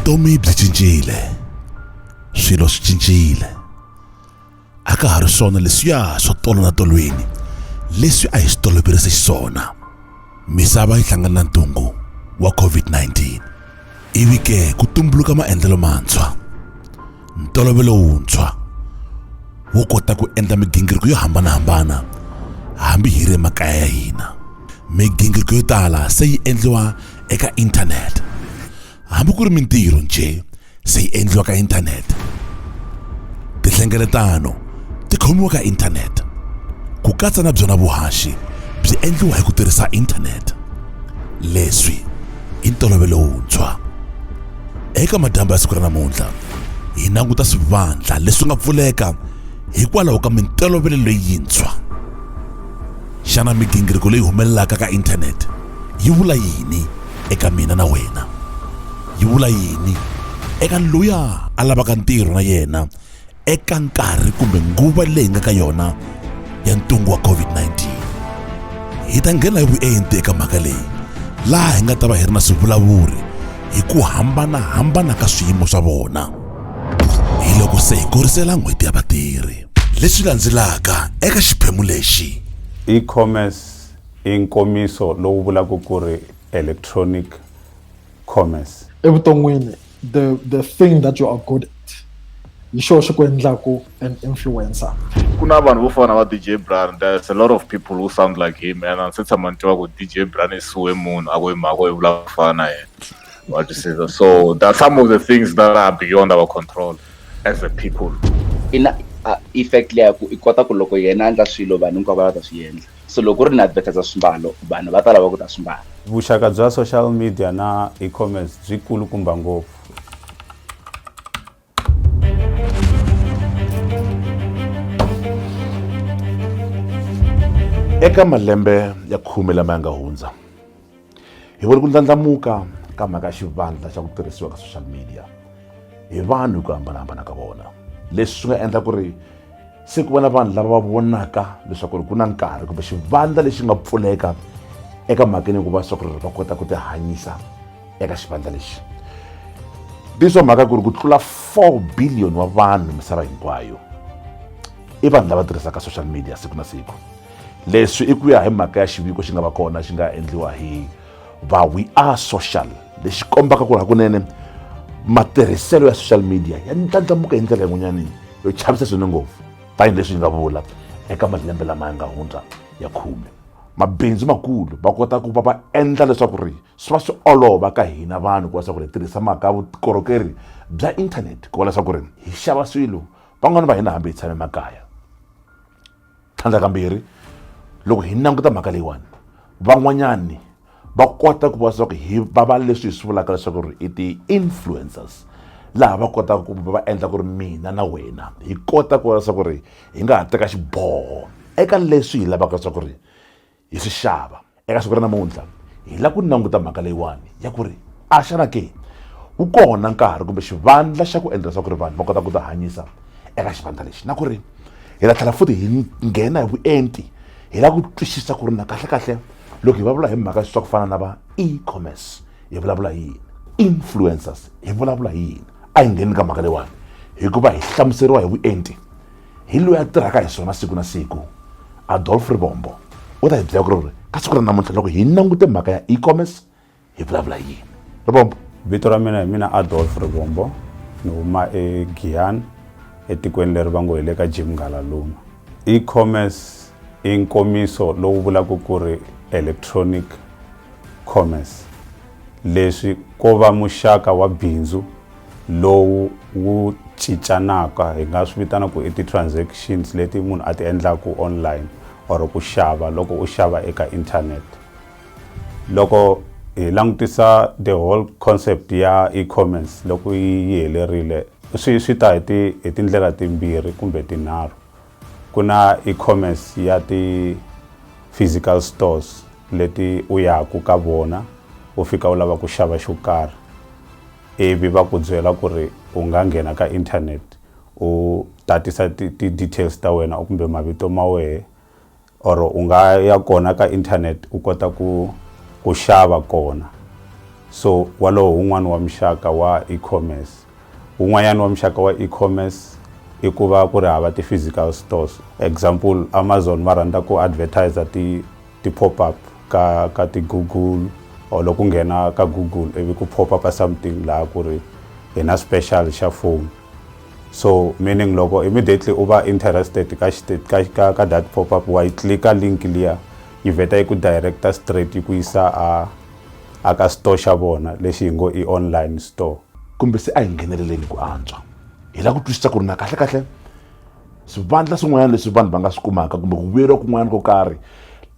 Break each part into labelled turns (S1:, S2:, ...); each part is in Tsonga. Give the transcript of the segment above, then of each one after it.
S1: vutomi byi cincile swilo swi cincile a ka ha ri swona leswiya swo tolola tolweni leswi a hi swi toloverise xiswona misava yi hlangana na ntungu wa covid-19 ivi ke ku tumbuluka maendlelo mantshwa ntolovelo wuntshwa wo kota ku endla migingiriko yo hambanahambana hambi hi ri emakaya ya hina migingiriko yo tala se yi endliwa eka inthanete hambi ku ri mintirho njhe se yi endliwa ka inthanete tinhlengeletano ti khomiwa ka inthanete ku katsa na byona vuhaxi byi endliwa hi ku tirhisa inthanete leswi i ntolovelo wuntshwa Eka madyambu ya siku ra namuntlha, hi languta swivandla leswi nga pfuleka hikwalaho ka mintolovelo leyintshwa. Xana migingiriko leyi humelelaka ka inthanete yi vula yini eka mina na wena? Yi vula yini eka loyi a lavaka ntirho na yena eka nkarhi kumbe nguva leyi nga ka yona ya ntungu wa COVID-19. Hi ta nghena hi vuenti eka mhaka leyi laha hi nga ta va hi ri na swivulavuri hi ku hambana-hambana ka swiyimo swa vona hi loko se hi korisela n'hweti ya vatirhi leswi landzelaka eka xiphemu lexi e-commerce
S2: i nkomiso lowu vulaka ku ri electronic commerce evuton'wini
S3: the the thing that you are good at hi xo xi ku endlaku an influencer ku na vanhu vo
S4: fana va DJ Brian there's a lot of people who sound like him and ndzi tshama ni tiva ku DJ Brian i suwe munhu a ku hi mhaka i vula ku fana na yena what you say so there are some of the things that are beyond our control as a people ina
S5: effect leya ku i kota ku loko yena a endla swilo vanhu hinkwavo va ta swi endla so loko u ri ni advertiser swimbalo vanhu va ta lava ku ta swi mbala vuxaka bya social
S2: media na e-commerce byi kulukumba ngopfu
S1: eka malembe ya khume lama ya nga hundza hi voni ku ndlandlamuka ka mhaka xivandla xa ku tirhisiwa ka social media hi vanhu hi ku hambanahambana ka vona leswi swi nga endla ku ri se ku va na vanhu lava va vonaka leswaku ri ku na nkarhi kumbe xivandla lexi nga pfuleka eka mhakeni ku va swa ku ri va kota ku tihanyisa eka xivandla lexi leswa mhaka ku ri ku tlula 4 billion wa vanhu misava hinkwayo i vanhu lava tirhisaka social media siku na siku leswi i ku ya hi mhaka ya xiviko xi nga va kona xi nga endliwa hi va we are social lexi kombaka ku ri hakunene matirhiselo ya social media ya ndlandlamuka hi ndlela yin'wanyanini yo chavisa swinene ngopfu tanihileswi yi nga vula eka malembe lama ya nga hundza ya khume mabindzu makulu va kota ku va va endla leswaku ri swi va swi olova ka hina vanhu ku va leswaku ri hi tirhisa mhaka ya vukorhokeri bya inthanete ku va leswaku ri hi xava swilo van'wani va hina hambi hi tshame makaya tlhandlakambirhi loko hi languta mhaka leyiwani van'wanyani va kota ku va leswaku hi va va leswi hi swi vulaka leswaku ri i ti-influencers laha va kotaka ku va endla ku ri mina na wena hi kota ku va leswaku ri hi nga ha teka xiboho eka leswi hi lavaka leswaku ri hi swi xava eka siku ra namuntlha hi lava ku languta mhaka leyiwani ya ku ri a xana ke wu kona nkarhi kumbe xivandla xa ku endla leswaku ri vanhu va kota ku ti hanyisa eka xivandla lexi na ku ri hi la tlhela futhi hi nghena hi vuenti hi lava ku twisisa ku ri na kahlekahle loko hi vulavula hi mhaka swa ku fana na va e-commerce hi vulavula yini influencers hi vulavula yini a hi ngheni ka mhaka leyiwani hikuva hi hlamuseriwa hi vuenti hi loyi a tirhaka hi swona siku na siku adolf rivombo u ta hi byela ku ri ka siku ra namuntlha loko hi langute mhaka ya e-commerce hi vulavula yini rivombo vito ra mina hi
S2: mina adolf rivombo ni huma egiyani etikweni leri va ngo hi le ka jim ngalaluma e-commerce i nkomiso lowu vulaka ku ri electronic commerce, leswi ko va muxaka wa bindzu lowu wu cincanaka hi nga swi vitana ku i ti-transactions leti munhu a ti endlaku online or ku xava loko u xava eka internet loko hi langutisa the whole concept ya e-commerce loko yi helerile swi swi ta hi ti hi tindlela timbirhi kumbe tinharhu ku na e-commerce ya ti-physical stores leti u yaku ka vona u fika u lava ku xava xo karhi ivi va ku byela ku ri u nga nghena ka internet u tatisa ti-details ta wena kumbe mavito ma wehe or u nga ya kona ka internet u kota ku ku xava kona so walowo un'wana wa muxaka wa e-commerce un'wanyana wa muxaka wa e-commerce i ku va ku ri hava ti-physical stores example amazon va rhandza ku advertiser ti ti-pop up ka ka ti-google or loko nghena ka google ivi ku pop up something laha ku ri hi na special xa phone so meaning loko immediately u va interested ka ka ka, ka that pop up wa yi clika link liya yi vheta yi ku directa straight yi ku yisa a a ka store xa vona lexi hi ngo i online store kumbe se a hi
S1: ngheneleleni ku antswa hi lava ku twisisa ku ri na kahle kahle swivandla swin'wanyana leswi vanhu va nga swi kumaka kumbe ku vuyeriwa kun'wanyana ko karhi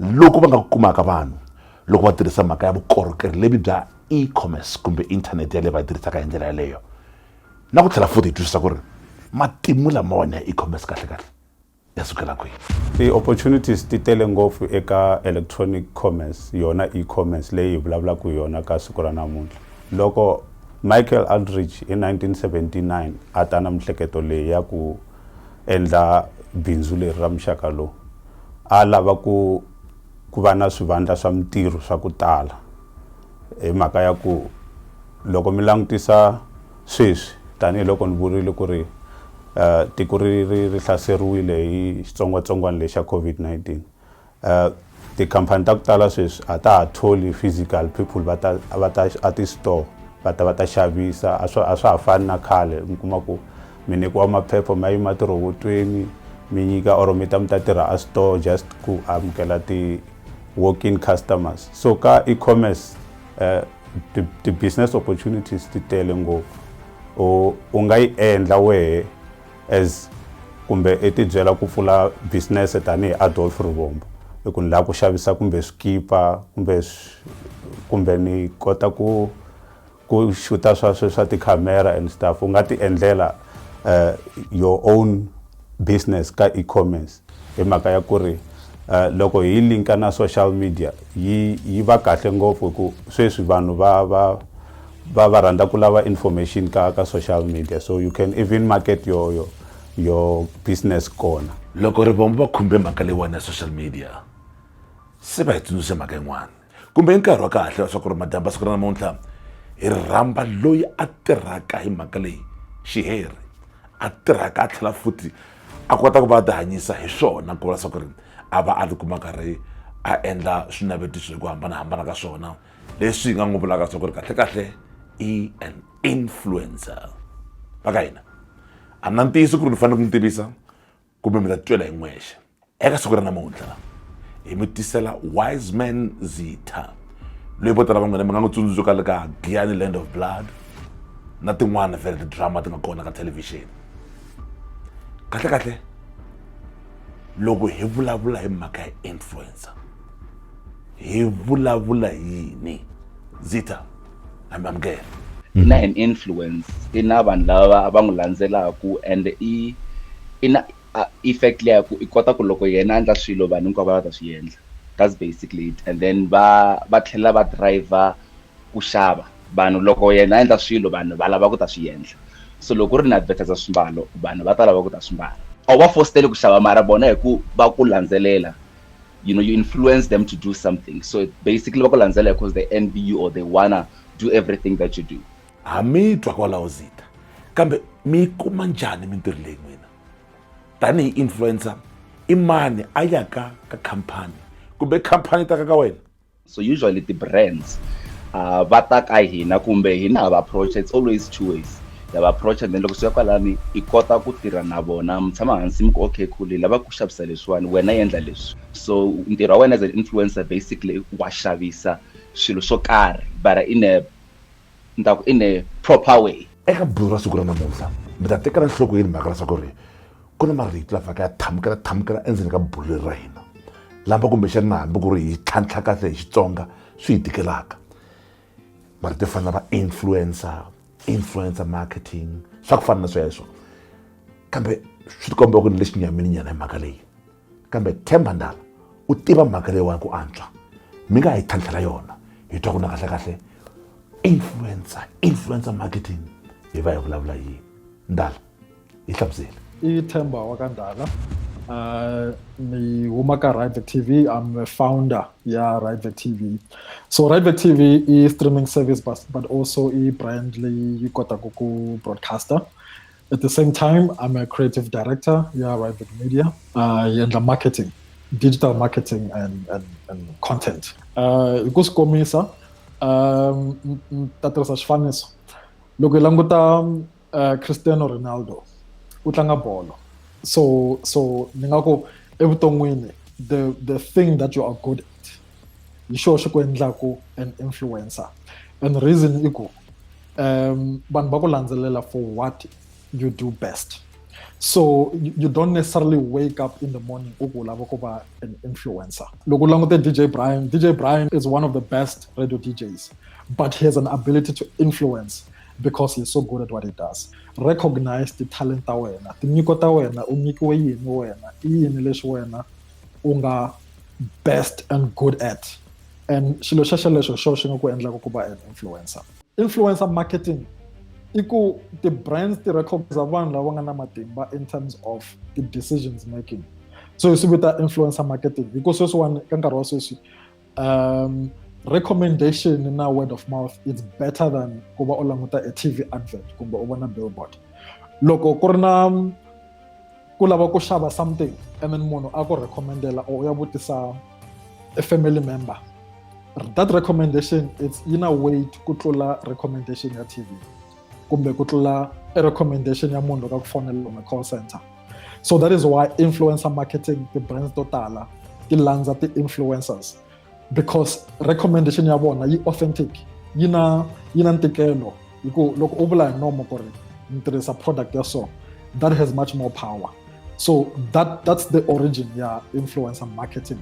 S1: loko va nga ku kumaka vanhu loko va tirhisa mhaka ya vukorhokeri lebyi bya e-commerce kumbe inthanete yaleyo va yi tirhisaka hi ndlela yaleyo na ku tlhela futhi hi twisisa ku ri matimu lamawani ya e-commerce kahlekahle ya sukela kwihi ti-opportunities
S2: ti tele ngopfu eka electronic commerce yona e-commerce leyi hi vulavulaka hi yona ka siku ra namuntlha loko michael aldridge hi 1979 a ta na mihleketo leyi ya ku endla bindzu leri ra muxaka lowu a lava ku ku va na swivandla swa mintirho swa ku tala hi mhaka ya ku loko mi langutisa sweswi tanihiloko ni vurile ku ri tiko ri ri ri hlaseriwile hi xitsongwatsongwana lexa COVID-19 tikhampani ta ku tala sweswi a ta ha tholi physical people va ta va ta a ti-store va ta va ta xavisa a swa a swa ha fani na khale mi kuma ku mi nyikiwa maphepha ma yima tirhowotweni mi nyika or mi ta mi ta tirha a store just ku amukela ti walk-in customers so ka e-commerce uh, the, the business opportunities ti tele ngopfu u u nga yi endla wehe as kumbe i tibyela ku pfula business tanihi adolf rivombo i ku ni laha ku xavisa kumbe swikipa kumbe kumbe ni kota ku Ku xuta swa swe swa ti camera and stuff u nga ti endlela uh, your own business ka e-commerce hi mhaka ya ku ri uh, loko hi linka na social media yi yi va kahle ngopfu ku sweswi vanhu va va va va rhandza ku lava information ka ka social media so you can even market your your, your business kona loko ri vona va
S1: khumbe mhaka leyiwani ya social media se va hi tsundzuxe mhaka yin'wana kumbe i nkarhi wa kahle wa swa ku ri madyambu siku ra namuntlha hi rhamba loyi a tirhaka hi mhaka leyi xihere a tirhaka a tlhela futhi a kota ku va a tihanyisa hi swona ku va leswaku ri a va a tikuma karhi a endla swinavetiso hi ku hambanahambana ka swona leswi hi nga n'wi vulaka leswaku ri kahlekahle i an influencer va ka hina a na ntiyiso ku ri ni fanele ku n'wi tivisa kumbe mi ta titwela hi n'wexe eka siku ra namuntlha hi mi tisela wiseman zitha loyi vo tala va n'wina mi nga n'wi tsundzuka le ka giyani land of blood na tin'wana vele tidrama ti nga kona ka thelevhixini kahlekahle loko hi vulavula hi mhaka ya influencer hi vulavula yini zitha amukela i na an
S5: influence i na vanhu lava va n'wi landzelaku and i i na effect leyi ku i kota ku loko yena a endla swilo vanhu hinkwavo va ta swi endla that's basically it and then va va tlhela va driver ku xava vanhu loko yena a endla swilo vanhu va lava ku ta swi endla so loko u ri na advertiser swimbalo vanhu va ta lava ku ta swimbala a wu va fositeli ku xava mara vona hi ku va ku landzelela. you know you influence them to do something so basically va ku landzela because they envy you or they wanna do everything that you do ha mi twa
S1: kwalaho zita kambe mi yi kuma njhani mintirho leyi n'wina tanihi influencer i mani a yaka ka khampani kumbe khampani ta ka ka wena so usually
S5: ti-brands uh, va ta ka hina kumbe hina ha va approach it's always two ways ha va approach and then loko swi ya kwalani i kota ku tirha na vona mi tshama hansi mi ku okay cool hi lava ku xavisa leswiwani wena endla leswi so ntirho wa wena as an influencer basically wa xavisa swilo swo karhi but in a ni ta ku in a proper way eka bulu ra siku ra
S1: namuntlha mi ta tekela nhlokweni mhaka leswaku ri ku na marito la faka ya thamukela thamukela endzeni ka bulu leri ra hina lama kumbexani na hambi ku ri hi tlhantlha kahle hi xitsonga swi hi tikelaka marito yo fana va influencer influencer marketing swa ku fana na sweswo kambe swi tikomba ku ni lexinyamini nyana hi mhaka leyi kambe themba ndala u tiva mhaka leyiwani ku antswa mi nga hi tlhantlhela yona hi twa ku na kahlekahle influencer influencer marketing hi va hi vulavula hi yini ndala yi
S3: hlamuseli
S1: i themba
S3: wa
S1: ka ndala uh,
S3: ni huma ka rivet tv i'm a founder ya rivet tv so rivet tv i streaming service but, but also i brand leyi yi kotaka ku broadcaster at the same time i'm a creative director yeah right with media uh, and the marketing digital marketing and, and, and content uh, hi ku swi komisa um ta tirhisa xifaniso loko hi languta uh, cristiano ronaldo u tlanga bolo so so ni nga ku evuton'wini the the thing that you are good at hi xo xi ku endlaku an influencer and reason i ku um vanhu va ku landzelela for what you do best so you don't necessarily wake up in the morning u ku u lava ku va an influencer loko u langute dj brian dj brian is one of the best radio djs but he has an ability to influence because he's so good at what he does recognize ti-talent ta wena tinyiko ta wena u nyikiwe yini wena i yini leswi wena u nga best and good at and xilo xa xelexo xo xi nga ku endlaka ku va an influencer influencer marketing i ku ti-brands ti recognize vanhu lava nga na matimba in terms of ti-decisions making so hi swi vita influencer marketing hi ku sweswiwani ka nkarhi wa sweswi um recommendation na word of mouth it's better than ku va u languta a tv advert kumbe u vona billboard loko ku ri na ku lava ku xava something and then munhu a ku recommendela or u ya vutisa a family member that recommendation it's in a way ku tlula recommendation ya tv kumbe ku tlula a recommendation ya munhu loko a ku fonela kumbe call center so that is why influencer marketing ti-brands to tala ti landza ti-influencers because recommendation ya vona yi authentic yi na yi na ntikelo hi ku loko u vula hi nomo ku ri ni tirhisa product ya so that has much more power so that that's the origin ya influencer marketing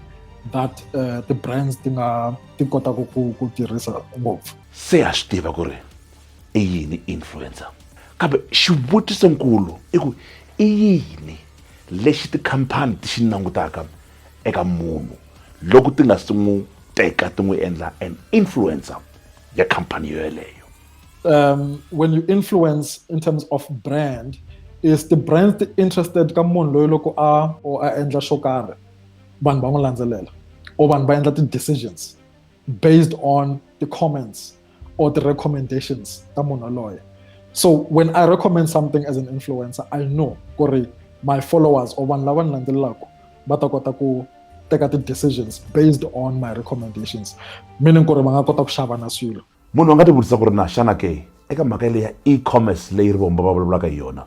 S3: that uh, the brands ti nga ti kotaka ku ku tirhisa ngopfu se ya swi tiva
S1: ku ri i yini influencer kambe xivutiso nkulu i ku i yini lexi tikhampani ti xi langutaka eka munhu loko ti nga si n'wi teka ti n'wi endla an influencer ya khampani yo yeleyo um
S3: when you influence in terms of brand is the brand ti interested ka munhu loyi loko a or a endla xo karhi vanhu va n'wi landzelela or vanhu va endla ti-decisions based on the comments or the recommendations ta munhu loye so when i recommend something as an influencer i know ku ri my followers or vanhu lava ni landzelelaka va ta kota ku teka ti-decisions based on my recommendations meaning ku ri va nga kota ku xava na swilo munhu a nga tivutisa ku ri
S1: na xana ke eka mhaka leyi ya e-commerce leyi ri vomba va vulavulaka hi yona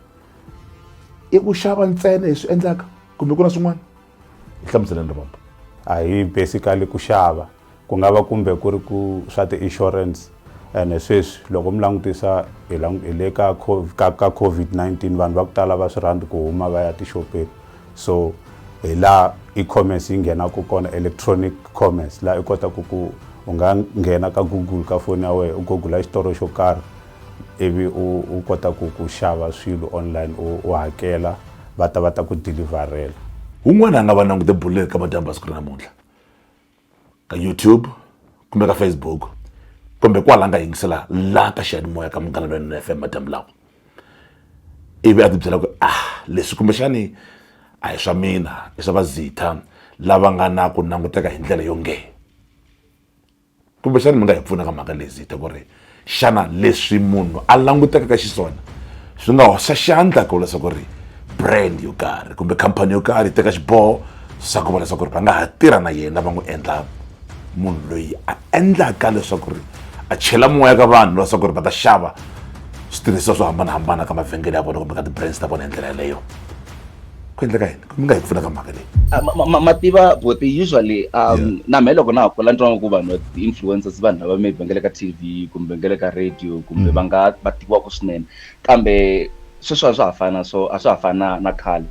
S1: i ku xava ntsena hi swi endlaka kumbe ku na swin'wana hlamuseleni rombo a hi
S2: basically ku xava ku nga va kumbe ku ri ku swa ti-insurance ene sweswi loko mi langutisa hi le ka ka covid-19 vanhu va ku tala va swi rhandzi ku huma va ya tixopeni so hi laha e-commerce yi nghenaka kona electronic commerce laha i kotaka ku u nga nghena ka google ka foni ya wena u google xitolo xo karhi ivi u u kota ku ku xava swilo online u u hakela va ta va ta ku deliverela un'wana a nga
S1: va langute bulo eka madyambu ya siku ra namuntlha ka youtube kumbe ka facebook kumbe kwala a nga yingisela la ka xiyanimoya ka munghana lwenene F_M madyambu lawa ivi a tibyela ku a leswi kumbexani a hi swa mina i swa va lava nga na ku languteka hi ndlela yo nge kumbexani mi nga hi pfuna ka mhaka leyi zita ku ri xana leswi munhu a langutekaka xiswona swi nga hoxa xandla ku leswaku ri brand yo karhi kumbe khampani yo karhi yi teka xiboho swa ku va leswaku ri va nga ha tirha na yena va n'wi endla munhu loyi a endlaka leswaku ri a chela moya ka vanhu leswaku ri va ta xava switirhisiwa swo hambanahambana ka mavhengele ya vona kumbe ka ti-brands ta vona hi ndlela yeleyo ku endleka yini mi nga hi pfuna ka mhaka leyi ah, mativa
S5: boti usually um na me loko na ha kula ntwango ku vanhu ti-influencers vanhu lava maybe va nga le ka t v kumbe nga le ka radio kumbe mm. va nga va tiviwaka swinene kambe sweswo a swa ha fana so a swa ha fana na khale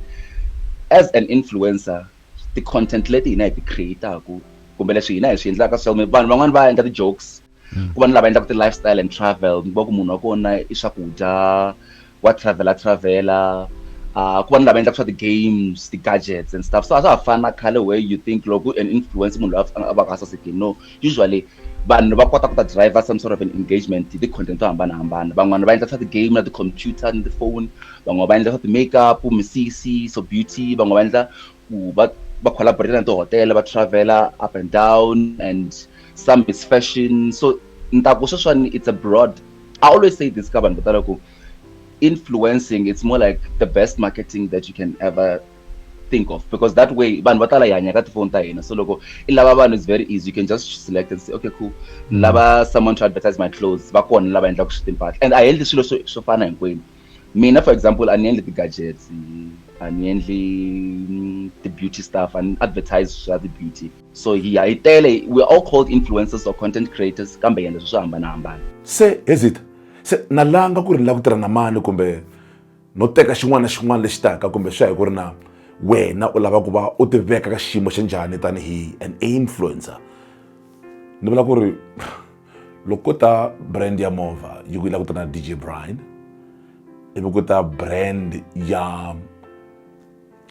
S5: as an influencer ti-content leti hina hi ti creataku kumbe leswi hina hi swi endlaka so vanhu van'wani va endla ti-jokes hmm. ku va ni lava endlaka ti-lifestyle and travel ni va ku munhu wa kona i swakudya wa travela travela uh, ku va ni lava endlaka swa ti-games ti-gadgets and stuff so a swa ha fani na khale where you think loko an influence munhu loyi a va ka sasekini no usually vanhu va kota ku ta driver some sort of an engagement hi ti-content to hambanahambana van'wana va endla swa ti-game na ti-computer ni ti-phone van'wana va endla swa ti-makeup misisi so beauty van'wana va endla ku va va collaborate na tihotela va travela up and down and some it's fashion so ni ta ku sweswiwani it's a broad i always say this ka vanhu vo tala ku influencing it's more like the best marketing that you can ever think of because that way vanhu va tala hi hanya ka tifoni ta hina so loko i lava vanhu is very easy you can just select and say okay cool ni lava someone to advertise my clothes va kona lava endlaka swi timpahla and a hi endli swilo swo swo fana hinkwenu mina for example a ni endli ti-gadgets a ni endli mm, ti-beauty stuff a ni advertise swa ti-beauty so hi hi tele we all called influencers or content creators kambe yena leswi swi hambanahambana
S1: se hezita se na langa ku ri ni lava ku tirha na mani kumbe no teka xin'wana na xin'wana lexi taka kumbe swi ya hi ku ri na wena u lava ku va u tiveka ka xiyimo xa njhani tanihi an influencer ni vula ku ri loko ko ta brand ya movha yi ku yi lava ku ta na dj brine ivi ku ta brand ya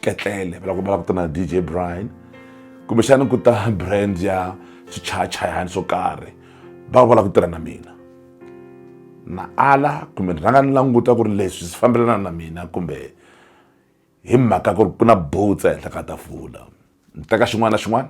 S1: ketlele va lava ku ta na dj brian kumbexana ku ta brand ya swichayachayani swo karhi va va lava ku tirha na mina na ala kumbe ni rhanga ni languta ku ri leswi swi fambelana na mina kumbe hi mhaka ku ri ku na butsa ehenhla ka tafula ni teka xin'wana na xin'wana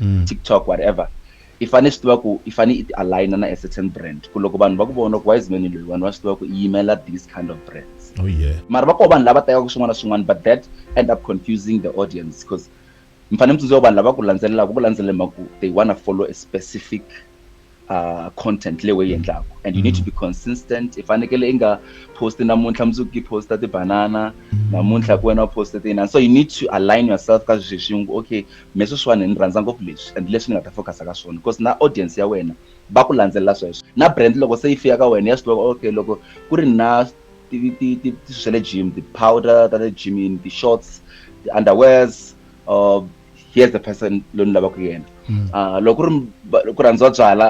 S5: mm. tiktok whatever i fanele swi tiva ku i fanele i ti aligna na a certain brand ku loko vanhu va ku vona ku wiseman loyi vanhu va swi tiva ku i yimela this kind of brands oh, yeah. mara va koho
S1: vanhu lava tekaka
S5: swin'wana na swin'wana but that end up confusing the audience because mi fanele mi tsundzuka vanhu lava ku landzelelaka ku landzelela mhaku they wanna follow a specific uh, content leyi we yi endlaku and you need to mm. be consistent i fanekele i nga posti namuntlha mundzuku i posta tibanana mm. namuntlha ku wena u poste tinani so you need to align yourself ka sweswi swi ngo okay me sweswiwani ni rhandza ngopfu leswi and leswi ni nga ta focusa ka swona because na audience ya wena va ku landzelela sweswo na brand loko se yi fika ka wena ya swi tiva okay loko ku ri na swa le gym ti-powder ta le gymini ti-shorts ti-underwears uh, here's the person loyi ni lavaka yena mm. ah, loko ri ku rhandziwa byala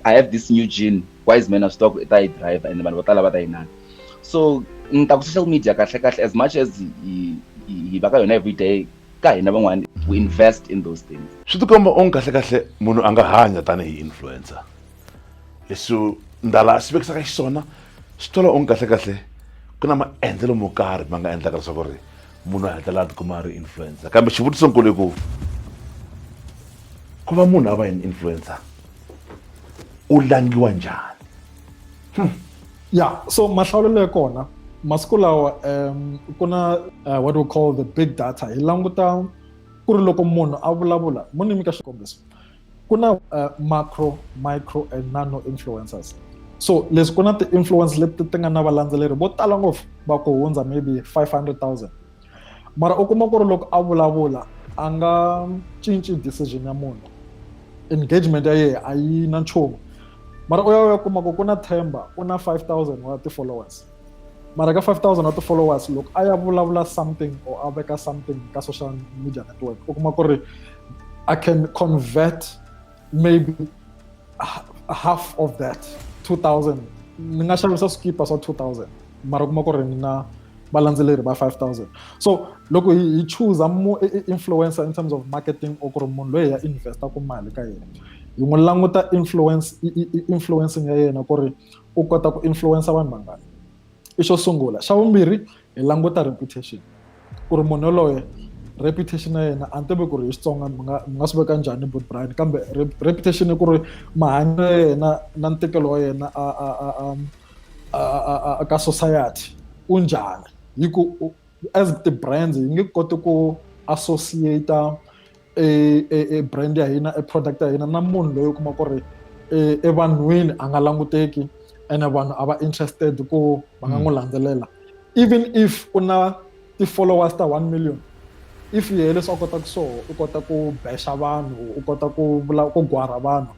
S5: i have this new gene wise man of stock i ta yi driver and vanhu vo tala va ta yi nana so ni ta ku social media kahle kahle as much as hi va ka yona every day ka hina van'wana we invest in those things swi tikomba onge kahle
S1: kahle munhu a nga hanya tanihi influencer leswi ndala swi vekisaka xiswona swi twala onge kahle kahle ku na maendlelo mo karhi ma nga endlaka leswaku ri munhu a hetelela a tikuma a ri influencer kambe xivutiso nkulu ku ku va munhu a va yini influencer u langiwa njhani hmm. ya
S3: so mahlawulelo ya kona masiku lawa um ku na uh, what we call the big data hi languta ku ri loko munhu a vulavula mu ni nyika xikombiso ku na uh, macro micro and nano influencers so leswi ku na ti-influence leti ti nga na valandzeleri vo tala ngopfu va ku hundza maybe 500 000 mara u kuma ku ri loko a vulavula a nga cinci decision ya munhu engagement ya yena a yi na nchumu mara u ya u ya kuma ku ku na themba u na 5000 wa ti-followers mara ka 5000 wa ti-followers loko a ya vulavula something or a veka something ka social media network u kuma ku ri i can convert maybe half of that 2000 ni nga xavisa swikipa swa 2000 mara u kuma ku ri ni na valandzeleri va 5000 so loko hi chooser mo influencer in terms of marketing or ku ri munhu loyi ya investa ku mali ka yena hi n'wi languta influence influencing ya yena ku ri u kota ku influencer vanhu vangani i xo sungula xa vumbirhi hi languta reputation ku ri munhu yoloye reputation ya yena a ni tivi ku ri hi xitsonga mi nga mi nga swi veka njhani but brian kambe reputation ku ri mahanyelo ya yena na ntikelo wa yena a a a a a ka society u njhani hi ku as ti-brands yi nge koti ku associate e, e, e brand ya hina e product ya hina na munhu loyi u kuma ku ri e, evanhwini a nga languteki ene vanhu a va interested ku va nga n'wi mm. landzelela even if u na ti-followers ta one million if yehe leswi a kotaka swoho u kota ku bexa vanhu u kota ku vula ku gwara vanhu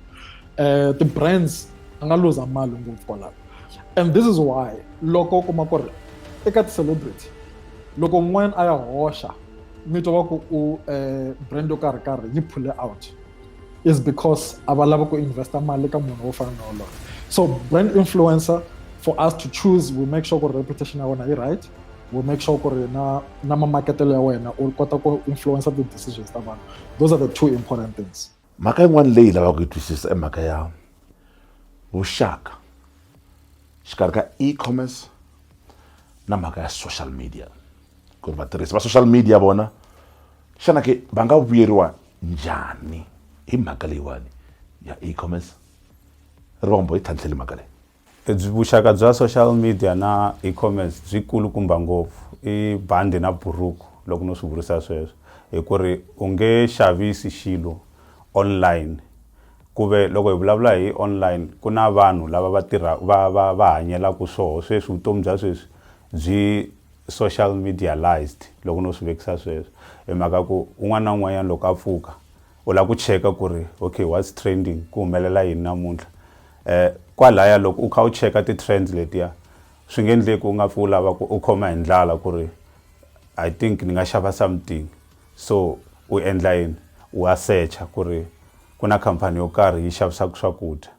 S3: um ti-brands a nga luza mali ngopfu kwalaho and this is why loko u kuma ku ri eka ti-celebrity loko un'wana a ya hoxa mito wa ku u eh, brand yo karhi karhi yi phule out is because a va lava ku investa mali ka munhu wo fana na wolowo so brand influencer for us to choose we make sure ku ri reputation ya wena yi right we make sure ku ri na na mamaketelo ya wena u kota ku influencer ti-decisions ta vanhu those are the two important things mhaka yin'wana leyi
S1: lavaka ku yi twisisa i mhaka ya vuxaka xikarhi ka e-commerce na mhaka ya social media ku ri vatirhisi va social media vona xana ke va nga vuyeriwa njhani hi mhaka leyiwani ya e-commerce ri va komba hi tlhantlheli mhaka leyi Vuxaka bya social
S2: media na e-commerce byi kulukumba ngopfu i bandi na buruku loko no swi vurisa sweswo hi ku ri u nge xavisi xilo online ku ve loko hi vulavula hi online ku na vanhu lava va tirha va va va hanyelaku swoho sweswi vutomi bya sweswi byi social medialised loko no swi vekisa sweswo hi mhaka ku un'wana na un'wanyani loko a pfuka. U lava ku cheka ku ri okay what's trending, ku humelela yini namuntlha. Kwalaya loko u kha u cheka ti trends letiya swi nga endleki u nga pfi u lava ku u khoma hi ndlala ku ri I think ni nga xava something so u endla yini wa secha ku ri ku na khampani yo karhi yi xavisaka swakudya.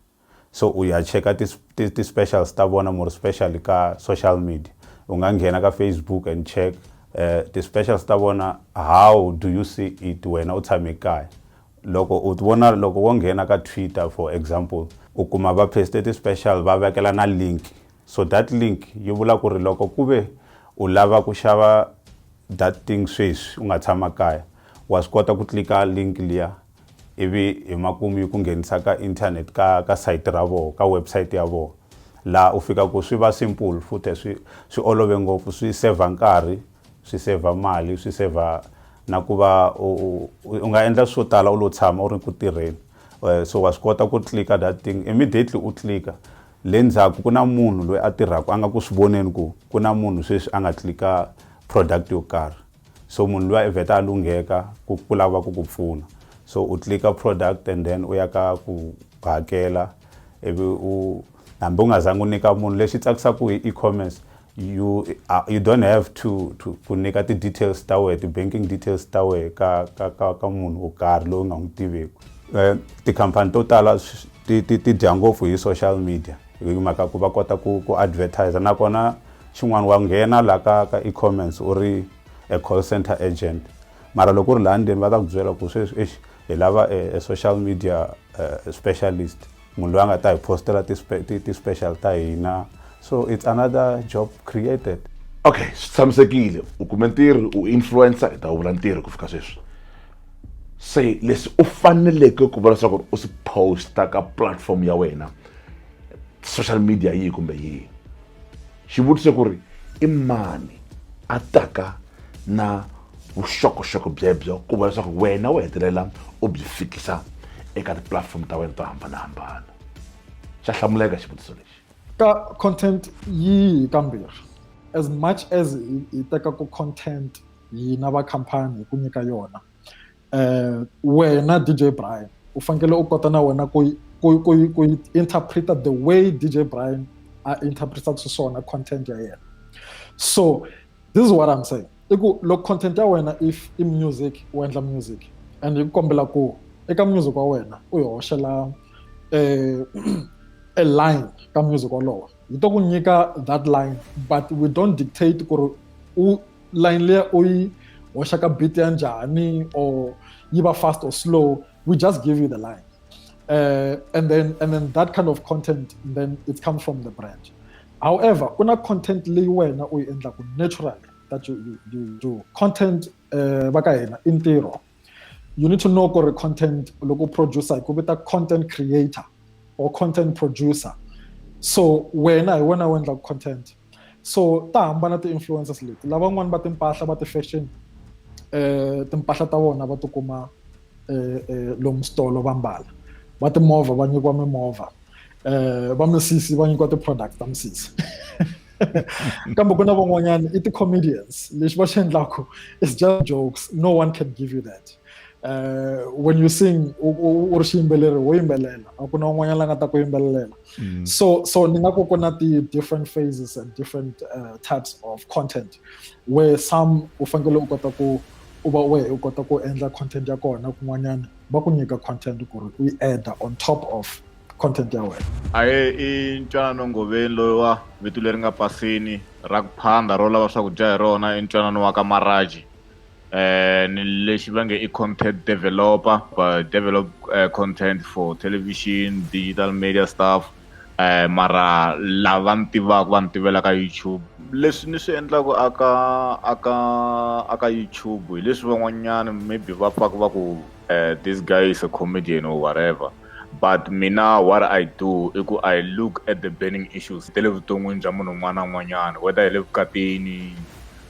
S2: so u ya cheka ti, ti, ti specials ta vona more special ka social media u nga nghena ka facebook and check uh, ti specials ta vona how do you see it wena u tshame kaya loko u vona loko wo nghena ka twitter for example u kuma va paste ti special va vekela na link so that link yi vula ku ri loko ku ve u lava ku xava that thing sweswi u nga tshama kaya wa swi kota ku tlika link liya ivi hi makumu yi ku nghenisa ka internet ka ka site ra voho ka website ya voho laha u fika ku swi va simple futhi swi swi olove ngopfu swi saver nkarhi swi saver mali swi saver na ku va u u nga endla swo tala u lo tshama u ri ku tirheni Eh, so wa swi kota ku clicker that thing immediately u clicker le ndzhaku ku na munhu loyi a tirhaka a nga ku swi voneni ku ku na munhu sweswi a nga clicker product yo karhi So munhu luya i vheta a lungheka ku ku lava ku ku pfuna. So u click-a product and then u ya ka ku hakela ivi u hambi u nga zangi u nyika munhu lexi tsakisaka hi e-commerce you uh, you don't have to to ku nyika ti-details ta wehe ti-banking details ta wehe ka ka ka ka munhu wo karhi loyi u nga n'wi tiveki um tikhampani to tala ti ti ti dya ngopfu hi social media hi mhaka ku va kota ku ku advertiser nakona Xin'wana wa nghena la ka ka e-comments u ri a call centre agent mara loko u ri laha ndzeni va ta ku byela ku sweswi eish hi lava a, a social media uh, specialist munhu loyi a nga ta hi postela ti, ti, ti special ta hina so it's another job created okay swi
S1: tshamisekile u kume ntirho u influencer hi ta wu vula ntirho ku fika sweswi se leswi u faneleke ku vula leswaku u swi posta ka platform ya wena social media yihi kumbe yihi xivutiso ku ri i mani a taka na vuxokoxoko byebyo ku va leswaku wena u hetelela u byi fikisa eka tipulatifomo ta wena to hambanahambana xa hlamuleka xivutiso lexi ka content
S3: yihi kambirhi as much as hi teka ku content hina va khampani hi ku nyika yona eh wena DJ Brian u fanele u kota na wena ku ku ku ku interpreta the way DJ Brian a interpreta xiswona content ya yena so this is what i'm saying i ku loko content ya wena if i music u endla music and hi ku kombela ku eka music wa wena u yi hoxela eh a line ka music wolowo yi to ku nyika that line but we don't dictate ku ri u line leya u yi hoxa ka beat ya njhani or yi va fast or slow we just give you the line uh, and then and then that kind of content then it comes from the brand however ku na content leyi wena u yi endlaku naturally that you, you, you do content uh, va ka hina i ntirho you need to know ku ri content loko producer hi ku vita content creator or content producer so wena hi wena u endlaka content so ta hambana ti-influencers leti lavan'wani va timpahla va ti-fashion eh timpahla ta vona va tikuma eh, eh lomu switolo va mbala va timovha va nyikiwa mimovha eh va misisi va nyikiwa ti-product ta misisi kambe ku na van'wanyana i ti-comedians lexi va xi endlaku is just jokes no one can give you that uh, when you sing u ri xiyimbeleri wo yimbelela a ku na un'wanyana la nga ta ku yimbelelela mm. so so ni nga ku ku na ti-different phases and different uh, types of content where some u fanekele u kota ku u va wehe u kota ku endla content ya kona kun'wanyana va ku nyika content ku ri u yi adda on top of content ya wena aye i
S4: ntwanano ngoveni loyiwa vito leri nga pasini ra ku phanda ro lava swakudya hi rona i ntwanano wa ka maraji eh ni lexi va nge i content developer va develop uh, content for television digital media stuff eh mara lava ni tivaka va ni tivela ka youtube leswi ni swi endlaka aka aka aka youtube hi leswi van'wanyana maybe va pfaka va ku eh this guy is a comedian or whatever But mina what I do i ku I look at the burning issues ta le vuton'wini bya munhu un'wana na un'wanyana whether hi le vukatini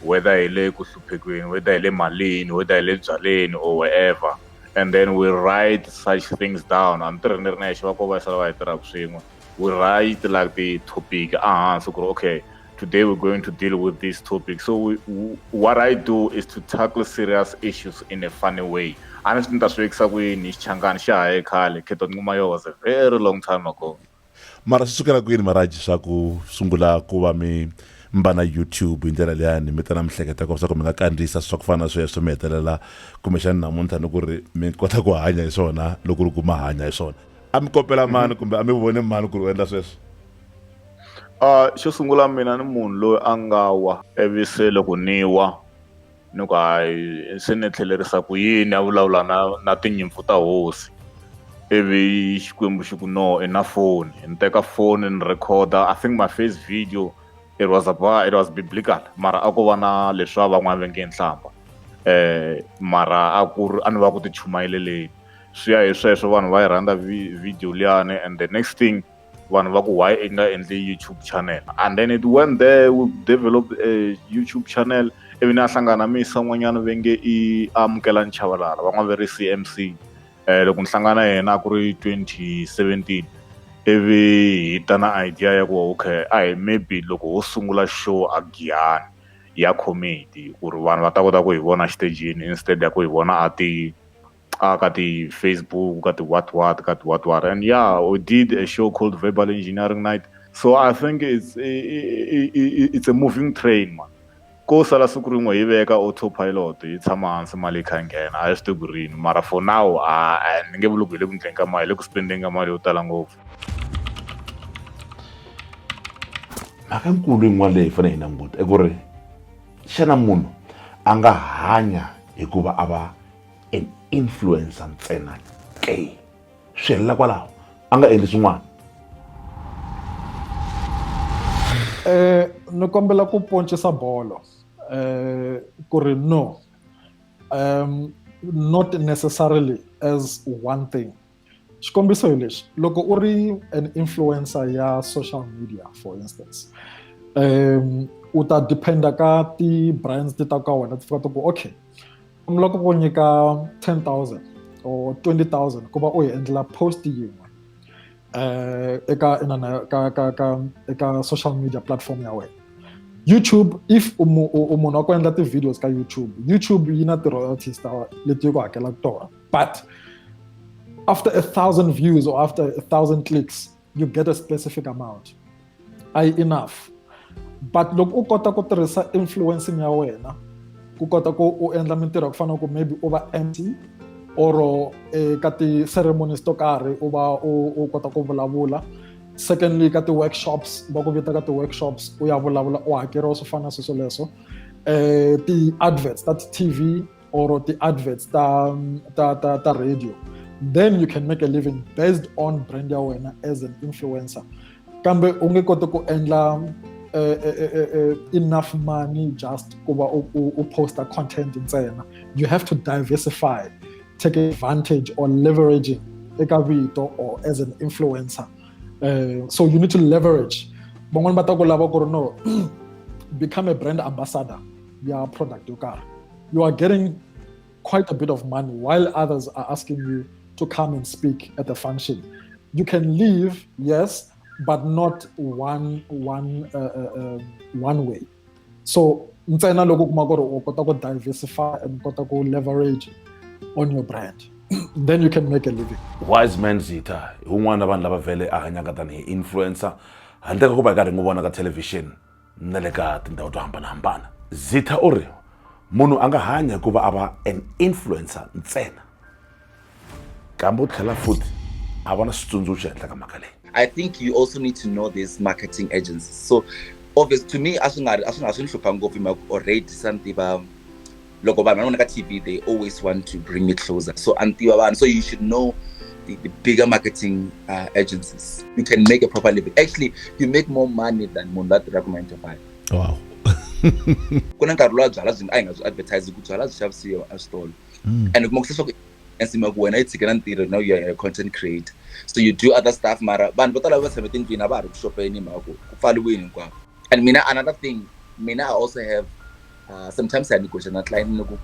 S4: whether hi le ku hluphekweni whether hi le malini whether hi le byaleni or wherever and then we write such things down a ni tirhi ni ri nexe va ko va sala va hi tirhaka swin'we. we write like the topic uh-huh, so okay today we're going to deal with this topic so we, we, what i do is to tackle serious issues in a funny way a ni swi ni ta swi vekisa kwini xichangani xa haye khale kheto ni kuma yo was a very long time ago mara swi sukela
S1: kwini maraji swa ku sungula ku va mi mi va na youtube hi ndlela leyani mi ta na mihleketa ko swa ku mi nga kandziyisa swa ku fana na sweswo mi hetelela kumbexani namuntlha ni ku ri mi kota ku hanya hi swona loko ri ku ma hanya hi swona a mi kopela mhm. mani kumbe a mi vone mani ku ri u endla sweswo
S4: a xo sungula mina ni munhu loyi a nga wa ivi se loko ni wa ni ku hayi se ni tlhelerisa ku yini a vulavula na na tinyimpfu ta hosi ivi xikwembu xi ku no i na foni ni teka foni ni recorda i think my first video it was about it was biblical mara a ko va na leswa van'wana va nge nhlamba um mara a ku ri a ni va ku tichumayeleleni swi ya hi sweswo vanhu va yi rhandza video liyani and the next thing vanhu va ku why i nga endli youtube channel and then it went there we developed a youtube channel ivi ni a hlangana misa n'wanyana ve nge i amukela nchavalala va n'wa ve ri c m c um loko ni hlangana yena a ku ri 2017 ivi hi ta na idea ya ku okay a hi maybe loko ho sungula show a giyani ya comedy ku ri vanhu va ta kota ku hi vona xitejini instead ya ku hi vona a ti a ka ti-Facebook ka ti-what what ka ti-what what and yeah we did a show called verbal engineering night so i think it's i, i, i, it's a moving train man ko sala siku rin'we hi veka autopilot hi tshama hansi mali yi kha yi nghena a hi swi tivi ku rini mara for now a ni nge vuli ku hi le ku endleni ka mali hi le ku spendeni ka mali yo tala ngopfu
S1: mhaka nkulu yin'wana leyi hi fanele hi languta i ku ri xana munhu a nga hanya hikuva a va an influencer ntsena ke swi helela kwalaho a nga endli swin'wana
S3: eh ni kombela ku poncisa bolo eh ku ri no um not necessarily as one thing xikombiso hi lexi loko u ri an influencer ya social media for instance um u ta dependa ka ti-brands ti ta ka wena ti fika ti ku okay mi loko ku nyika 10000 or 20000 ku va u yi endlela post yin'we um eka inana ka ka ka eka social media platform ya wena youtube if u munhu wa ku endla ti-videos ka youtube youtube yi na ti-royalties ta leti yi ku hakelaka tona But after a thousand views or after a thousand clicks, you get a specific amount. I enough. But look, u kota ku tirhisa influencing ya wena ku kota ku u endla mintirho ku fana ku maybe u va MC or eh, ka ti-ceremonies to karhi u va u kota ku vulavula secondly ka ti-workshops va ku vita ka ti-workshops u ya vulavula u hakeriwa swo fana sweswo leswo um eh, ti-adverts ta ti-tv or the adverts ta, ta, ta, ta radio then you can make a living based on brand ya wena as an influencer kambe u nge koti ku endla uh, uh, uh, enough money just ku va u posta content ntsena you have to diversify take advantage or leveraging eka vito or as an influencer uh, so you need to leverage van'wani va ta ku lava ku ri no become a brand ambassador ya product yo karhi you are getting quite a bit of money while others are asking you to come and speak at the function. You can leave, yes, but not one one uh, uh, uh one way. So ntsena loko kuma ku ri u kota ku diversify and kota ku leverage on your brand then you can make a living wise man zita
S1: hi un'wana vanhu lava vhele a hanyaka tanihi influencer handle ka ku va hi karhi n'wi vona ka television na le ka tindhawu to hambanahambana zitha u ri munhu a nga hanya hi ku va a va an influencer ntsena kambe u tlhela futhi a va na switsundzuxo henhla ka mhaka leyi I think you also
S5: need to know these marketing agencies. So obvious to me, as soon as soon as soon as already something about loko vanhu va vona ka tv they always want to bring me closer so a ni tiva vanhu so you should know the, the bigger marketing uh, agencies you can make a proper living actually you make more money than munhu la tirhaka nine to five wow ku na nkarhi lowa byala byi nga a hi nga byi advertise ku byala byi xavisiwa eswitolo mm. and kuma ku se swa ku ensima ku wena yi tshike na ntirho now you're a content creator so you do other stuff mara vanhu vo tala va tshame tindlwini a va ha ri ku xopeni hi mhaka ku ku pfaliwini hinkwako and mina another thing mina i also have uh, sometimes i negotiate na client ni ku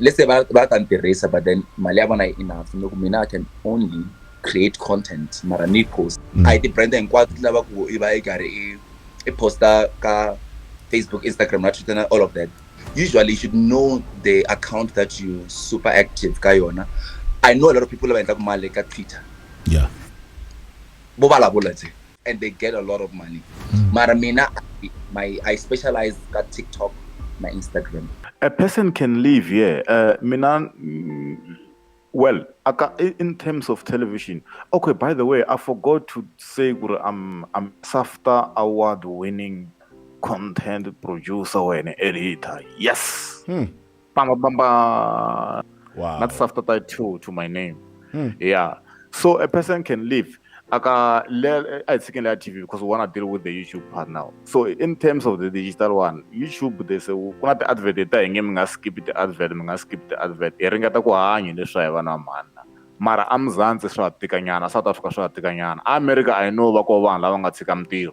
S5: let's say va va ta ni tirhisa but then mali ya vona yi enough ni ku mina i can only create content mara ni post mm. a yi ti-brand hinkwato ti lava ku i va yi karhi i i posta ka facebook instagram na twitter na all of that usually you should know the account that you super active ka yona i know a lot of people lava endlaku mali ka twitter yeah
S1: bo vulavula tse
S5: and they get a lot of money mm. mara mina my i specialize ka tiktok na instagram a person can
S4: live yeah uh, mina mm, well aka in terms of television okay by the way i forgot to say guru i'm i'm safta award winning content producer when editor yes hmm. bamba bamba wow. not after that to to my name mm. yeah so a person can live aka i think that tv because we want to deal with the youtube part now so in terms of the digital one youtube they say kuna ti-advert ta hi nge mi nga skip ti-advert mi nga skip ti-advert hi ringeta ku hanya leswi hi vana mhana mara amzantsi swa tikanyana south africa swa tikanyana america i know va ko vanhu lava nga tshika mintirho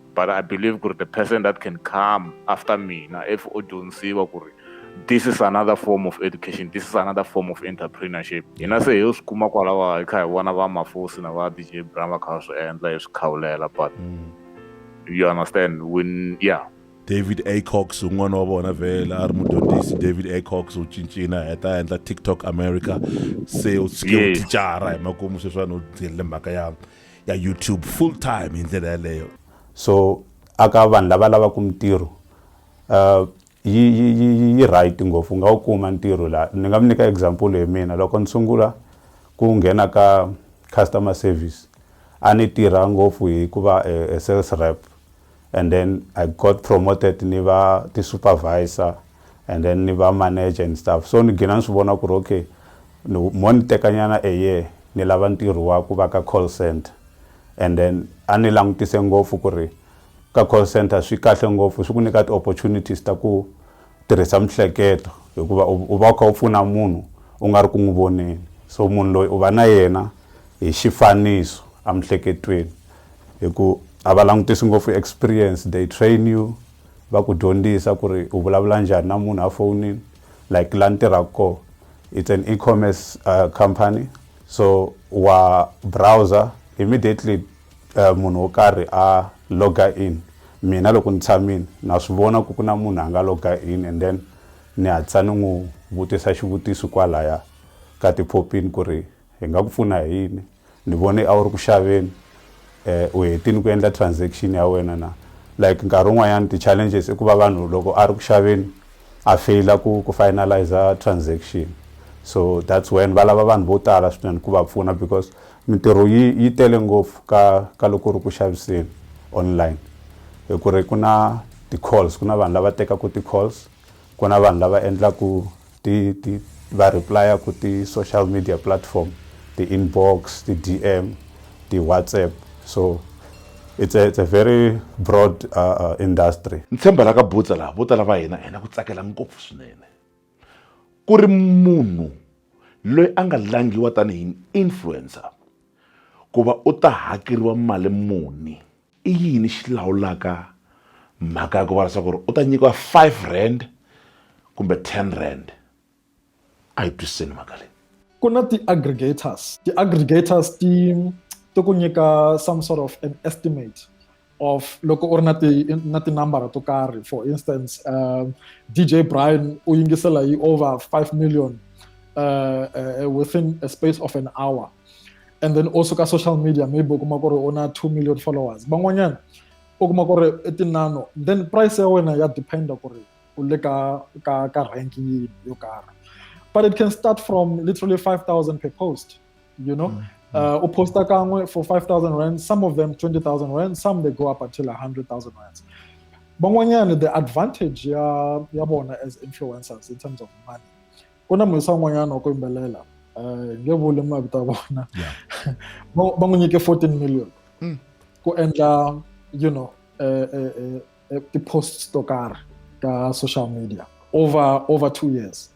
S4: but i believe ku ri the person that can come after mina if o dyondzisiwa ku ri this is another form of education this is another form of entrepreneurship hina se hi swi kuma kwalawa hi kha hi vona va mafosi na va dj bram va kha va swi endla hi swi khawulela but mm. you understand when yeah david
S1: acox un'wana wa vona vhela a ri mudyondzisi david acox u cincina heta endla tiktok america se u tshike u thicara hi makumu sweswiwani u tirhile mhaka ya ya youtube full time hi ndlela yaleyo so
S2: aka vanhu lava lavaka mintirho uh, yi, yi, yi, yi right ngopfu u nga wu kuma ntirho laha ni nga mi nyika example hi mina loko ni sungula ku nghena ka customer service a ni tirha ngopfu hikuva eh, eh, sales rep and then i got promoted ni va ti-supervisor and then ni va manager and stuff so ni gina ni swi vona ku ri okay mo ni tekanyana a year ni lava ntirho wa ku va ka call center and then a ni langutise ngopfu ku ri ka call center swi kahle ngopfu swi ku nyika ti-opportunities ta ku tirhisa mihleketo hikuva u va u kha u pfuna munhu u nga ri ku n'wi voneni so munhu loyi u va na yena hi xifaniso emihleketweni hi ku a va langutisi ngopfu experience they train you va ku dyondzisa ku ri u vulavula njhani na munhu a fonini like la ni tirhaka kona it's an e-commerce uh, company so wa browser immediately uh, munhu wo karhi a loga in mina loko ni tshamile na swi vona ku ku na munhu a nga loga in and then ni hatlisa ni n'wi vutisa xivutiso kwalaya ka tiphopini ku ri hi nga ku pfuna hi yini ni vone a wu ri ku xaveni um u hetini ku endla transaction ya wena na like nkarhi wun'wanyana ti-challenges i ku va vanhu loko a ri ku xaveni a faila ku ku finaliza transaction so that's when va lava vanhu vo tala swinene ku va pfuna because Mintirho yi yi tele ngopfu ka ka loko ri ku xaviseni online hi ku ri ku na ti-calls ku na vanhu lava tekaka ti-calls ku na vanhu lava endlaka ti ti va reply-aka ti-social media platform ti-inbox ti-D_M ti-WhatsApp so it's a it's a very broad industry. Ni tshemba la ka
S1: Butsa laha vo tala va hina hi na ku tsakela ngopfu swinene. ku ri munhu loyi a nga langhiwa tanihi influencer ku va u ta hakeriwa mali muni i yini xi lawulaka mhaka ya ku va leswaku ri u ta nyikiwa five rand kumbe ten rand a hi twisiseni mhaka leyi ku na
S3: ti-aggregators ti-aggregators ti ti ku nyika some sort of an estimate of loko u ri na ti na tinambara to karhi for instance uh, dj brian u yingisela yi over 5 million uh, uh, within a space of an hour and then also ka social media maybe u kuma ku ri u na 2 million followers van'wanyana u kuma ku ri i tinano then price ya wena ya dependa ku ri u le ka ka ka rank yini yo karhi but it can start from literally 5000 per post you know mm. uh, uposta kanwe for 5000 rand some of them 20000 rand some they go up until 100000 rand van'wanyana the advantage ya ya vona as influencers in terms of money ku na muhisa un'wanyana wa ku yimbelela eh, nge vuli mavito ya vona va n'wi nyike 14 million mm. ku endla you know eh, eh, ti-posts to karhi ka social media over over two years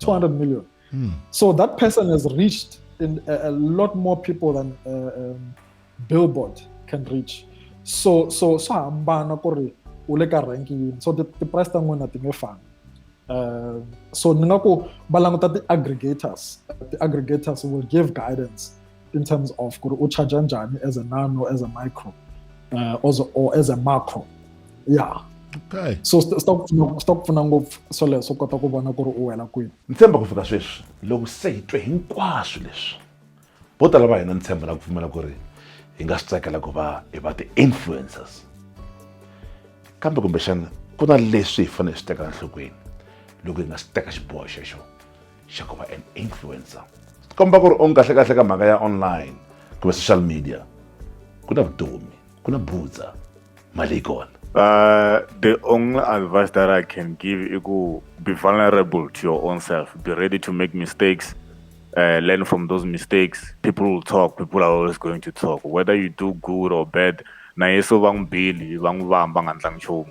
S3: 200 million. Hmm. So that person has reached in a, a lot more people than uh, um, Billboard can reach. So so so hambana ku ri u le ka rank yini so ti-price ta n'wina ti nge fani um so ni nga ku va languta ti-aggregators ti-aggregators will give guidance in terms of ku ri u charger njhani as a nano as a micro uh, also, or as a macro yeah okay so
S1: swi ta ku pfuna
S3: swi ta ku pfuna ngopfu swoleswo u kota ku vona ku ri u wela kwini ni tshemba ku fika sweswi
S1: loko se hi twe hinkwaswo leswi vo tala va hina ni tshemba na ku pfumela ku ri hi nga swi tsakela ku va hi va ti-influencers kambe kumbexana ku na leswi hi fanele hi swi teka enhlokweni loko hi nga swi teka xiboho xexo xa ku va an influencer komba ku ri onge kahlekahle ka mhaka ya online kumbe social media ku na vutomi ku na butsa mali yi kona Uh, the
S4: only advice that I can give is to be vulnerable to your own self. Be ready to make mistakes. Uh, learn from those mistakes. People will talk. People are always going to talk. Whether you do good or bad, na yeso bang bili bang bang bang antlang chomu.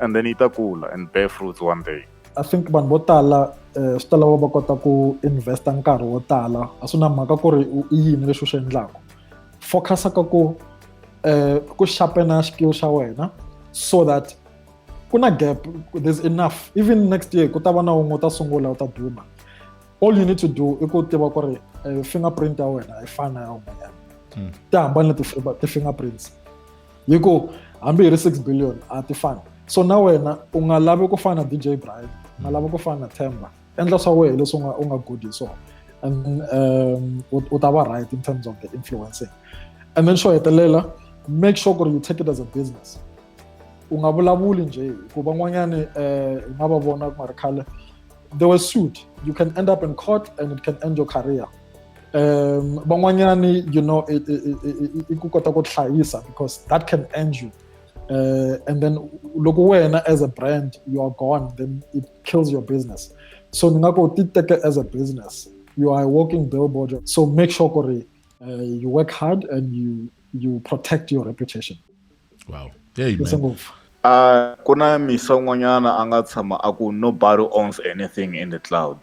S4: and then yi ta kula and bear fruits one day i think vanhu vo
S3: tala eh, swi ta lava va kota ku investa nkarhi wo tala a swi na mhaka ku ri i yini leswi u swi endlaka focusa ka ku um ku xapena skill xa wena so that ku na gap there's enough even next year ku ta va na wun'we u ta sungula u ta duma all you need to do i ku tiva ku ri eh, fingerprint ya wena a yi fani na ya un'wanyana hmm. ti hambane ti-fingerprints yi ku hambi hi ri six billion a ti fani so na wena u nga lavi ku fana na dj brian u nga lavi ku fana na temba endla swa wena leswi u nga u nga good hi swona and um, u ta va right in terms of the influencing and then xo hetelela make sure ku ri you take it as a business u nga vulavuli nje ku van'wanyani um eh, hi nga va vona ku nga ri khale they were sued you can end up in court and it can end your career um van'wanyani you know i ku kota ku hlayisa because that can end you uh, and then loko wena as a brand you are gone then it kills your business so ni nga ku ti teke as a business you are a walking billboard so make sure ku ri uh, you work hard and you you protect your reputation wow
S1: hey, man. Uh, ku na
S4: misa un'wanyana a nga tshama a ku nobody owns anything in the cloud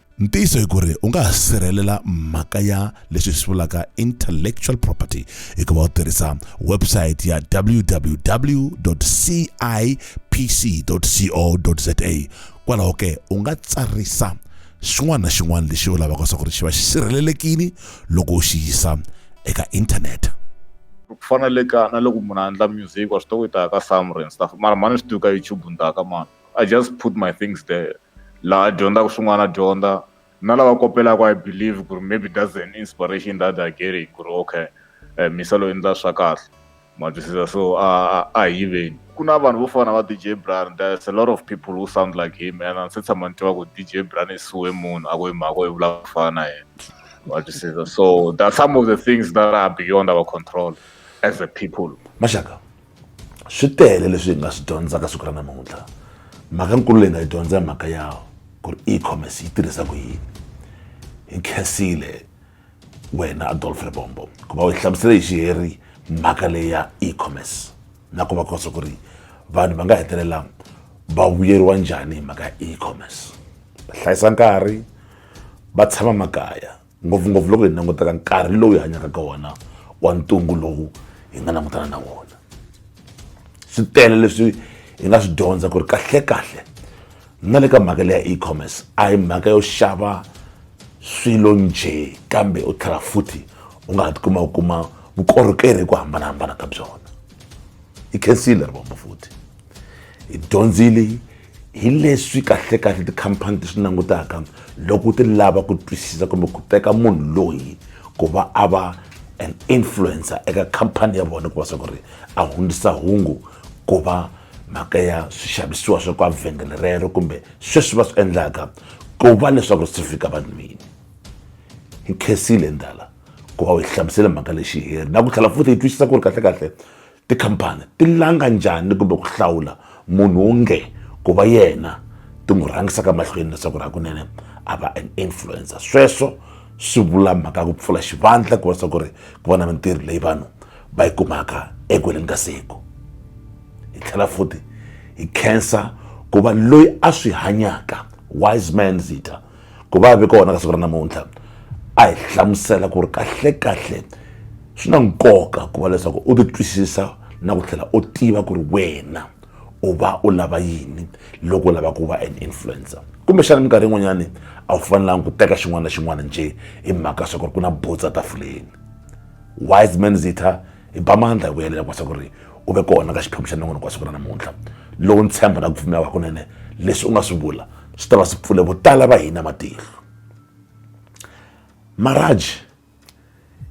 S4: ntiyiso hi ku ri u
S1: nga ha sirhelela mhaka ya leswi hi swi vulaka intellectual property hikuva u tirhisa website ya www cipc co za kwalaho ke u nga tsarisa xin'wana na xin'wana lexi u lavaka swa ku ri xi va xi sirhelelekile loko u xi yisa eka inthanete ku
S4: fana le ka na loko munhu a endla music wa swi tiva ku yi ta ya ka samrins mara mhani swi tivi ka youtube ni ta ya ka mani I just put my things there laha dyondzaka swin'wana dyondza na lava kopelaka i believe ku ri maybe that's an inspiration that i get it ku ri okay um misa loyi ndza swa kahle ma twisisa so a a hi yiveni ku na vanhu vo fana va dj bran there's a lot of people who sound like him and se tshama ni tiva ku dj bran i suwe munhu a ku hi mhaka i vula ku fana na yena ma twisisa so that some of the things that are beyond our control as a people maxaka
S1: swi tele leswi hi nga swi dyondzaka siku ra namuntlha mhaka nkulu leyi nga yi dyondza hi mhaka ya ku ri e-commerce yi tirhisa ku yini hi khensile wena adolf rebombo ku va u hi hlamusele hi xiheri mhaka leyi ya e-commerce na ku va kosa ku ri vanhu va nga hetelela va vuyeriwa njhani hi mhaka ya e-commerce va hlayisa nkarhi va tshama makaya ngopfungopfu loko hi langutaka nkarhi lowu hi hanyaka ka wona wa ntungu lowu hi nga langutana na wona swi tele leswi hi nga swi dyondza ku ri kahlekahle na le ka mhaka leya e-commerce a hi mhaka yo xava swilo njhe kambe u tlhela futhi u nga ha tikuma u kuma vukorhokeri hi ku hambanahambana ka byona hi khensile ri vomba futhi hi dyondzile hi leswi kahlekahle tikhampani ti swi langutaka loko ti lava ku twisisa kumbe ku teka munhu loyi ku va a va an influencer eka khampani ya vona ku va swa ku ri a hundzisa hungu ku va mhaka ya swixavisiwa swa kwa vhengele rero kumbe sweswi va swi endlaka ku va leswaku swi fika vanhwini hi khensile ndala ku va u hi hlamusele mhaka lexi heri na ku tlhela futhi hi twisisa ku ri kahlekahle Tikhampani ti langa njhani kumbe ku hlawula munhu wo nge ku va yena ti n'wi rhangisaka mahlweni leswaku ri hakunene a va an influencer sweswo swi vula mhaka ku pfula xivandla ku va swa ku ri ku va na mintirho leyi vanhu va yi kumaka eku heleni ka siku hi tlhela futhi hi khensa ku va loyi a swi hanyaka wise man zita ku va vi kona ka siku ra namuntlha a hi hlamusela ku ri kahlekahle swi na nkoka ku va leswaku u titwisisa na ku tlhela u tiva ku ri wena u va u lava yini loko u lava ku va an influencer kumbexana minkarhi yin'wanyani a wu fanelanga ku teka xin'wana na xin'wana njhe hi mhaka swa ku ri ku na botsa tafuleni wise man zitha hi ba mandla hi vuyelela kwasa ku ri u ve kona ka xiphemu xa nongonoko wa siku ra namuntlha lowu ni tshemba na ku pfumela hakunene leswi u nga swi vula swi ta va swi pfule vo tala va hina matihlo maraji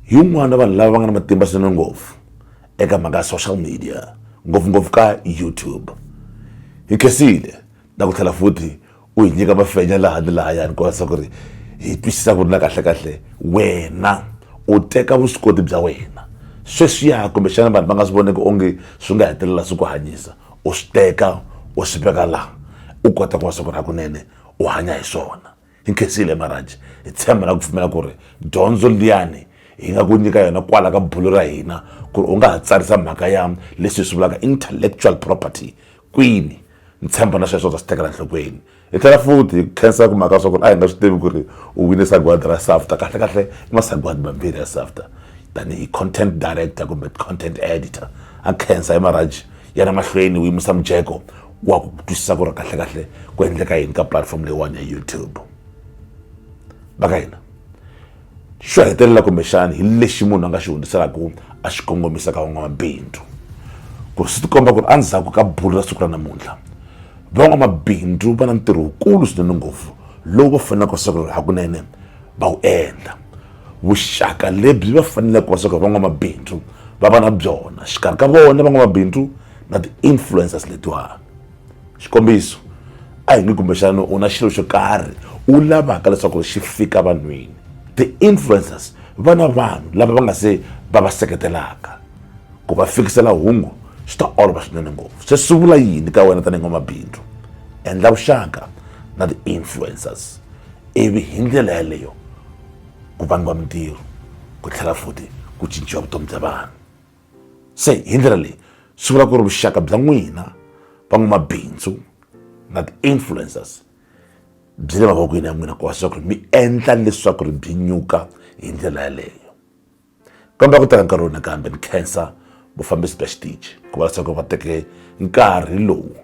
S1: hi un'wana vanhu lava va nga na matimba swinene ngopfu eka mhaka ya social media ngopfungopfu ka youtube hi khensile na ku tlhela futhi u hi nyika mafenya laha ni lahayani ku vavisa ku ri hi twisisa ku ri na kahlekahle wena u teka vuswikoti bya wena sweswiya kumbexana vanhu va nga swi voneki onge swi nga hetelela swi ku hanyisa u swi teka u swi veka laha u kota ku va swa ku ri hakunene u hanya hi swona hi nkhensile marhanji hi tshemba na ku pfumela ku ri dyondzo liyani hi nga ku nyika yona kwala ka bulo ra hina ku ri u nga ha tsarisa mhaka ya leswi hi swi vulaka intellectual property kwini ni tshemba na sweswo ta swi tekela nhlokweni hi tlhela futhi hi khensa ku mhaka swa ku ri a hi nga swi tivi ku ri u wine sagwadi ra safta kahlekahle i masagwadi mambirhi ya safta tanihi content director kumbe content editor a khensa hi marhaji yana mahlweni u yimisa mujeko wa ku twisisa ku ri kahlekahle ku endleka yini ka platform leyiwani ya youtube va ka hina xo hetelela kumbexani hi lexi munhu a nga xi hundziselaka a xi kongomisa ka van'wamabindzu ku ri swi tikomba ku ri endzhaku ka bulu ra siku ra namuntlha van'wamabindzu va na ntirho wukulu swinene ngopfu lowu va faneleke swa ku ri hakunene va wu endla vuxaka lebyi va faneleke swa ku ri van'wamabindzu va va na byona xikarhi ka vona van'wamabindzu na ti-influencers letiwani xikombiso a hi nge kumbexana u na xilo xo karhi u lavaka leswaku ri xi fika vanhwini ti-influencers va na vanhu lava va nga se va va seketelaka ku va fikisela hungu swi ta olova swinene ngopfu se swi vula yini ka wena tanihi n'wamabindzu endla vuxaka na ti-influencers ivi hi ndlela yaleyo ku vangiwa mintirho ku tlhela futhi ku cinciwa vutomi bya vanhu Se hi ndlela leyi swi vula ku ri vuxaka bya n'wina van'wamabindzu na ti-influencers byi le mavokweni ya n'wina ku va leswaku mi endla leswaku ri byi nyuka hi ndlela yaleyo kambe ku teka nkarhi wo nakambe ni khensa vufambisi bya xitichi ku va leswaku va teke nkarhi lowu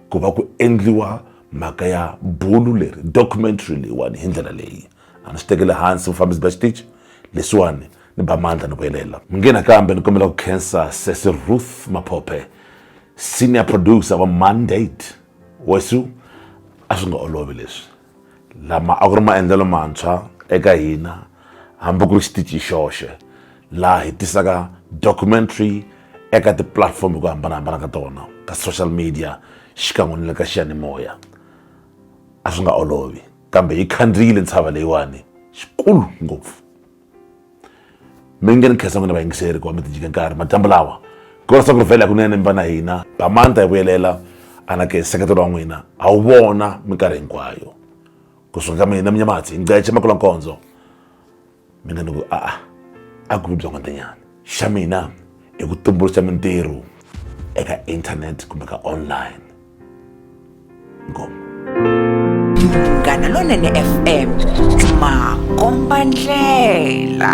S1: ku va ku endliwa mhaka ya bulo leri documentary leyiwani hi ndlela leyi. a ni swi tekeli hansi vufambisi bya xitichi leswiwani ni ba mandla ni vuyelela mi nge nakambe ni kombela ku khensa sesi ruth maphophe senior producer wa mandate wesu a swi nga olovi leswi lama a ku ri maendlelo mantshwa eka hina hambi ku ri xitichi xoxe laha hi tisaka documentary eka tipulatifomo hi ku hambanahambana ka tona ka social media xikan'we ni le ka xiyanimoya a swi nga olovi kambe yi khandziyile ntshava leyiwani xikulu ngopfu mi nge ni khensa n'wina vayingiseri ku va mi tijike nkarhi madyambu lawa korisa ku rivhela kunene mi va na hina bamanta yi vuyelela anake nseketelo wa n'wina a wu vona minkarhi hinkwayo kusuka ka mina minyamatsi ngece makulankondzo mina ni ku a-a a ku vi byongotinyana xa mina i ku tumbuluxa mintirho eka internet kumbe ka online ngoma
S6: munghana lonene fm makomba ndlela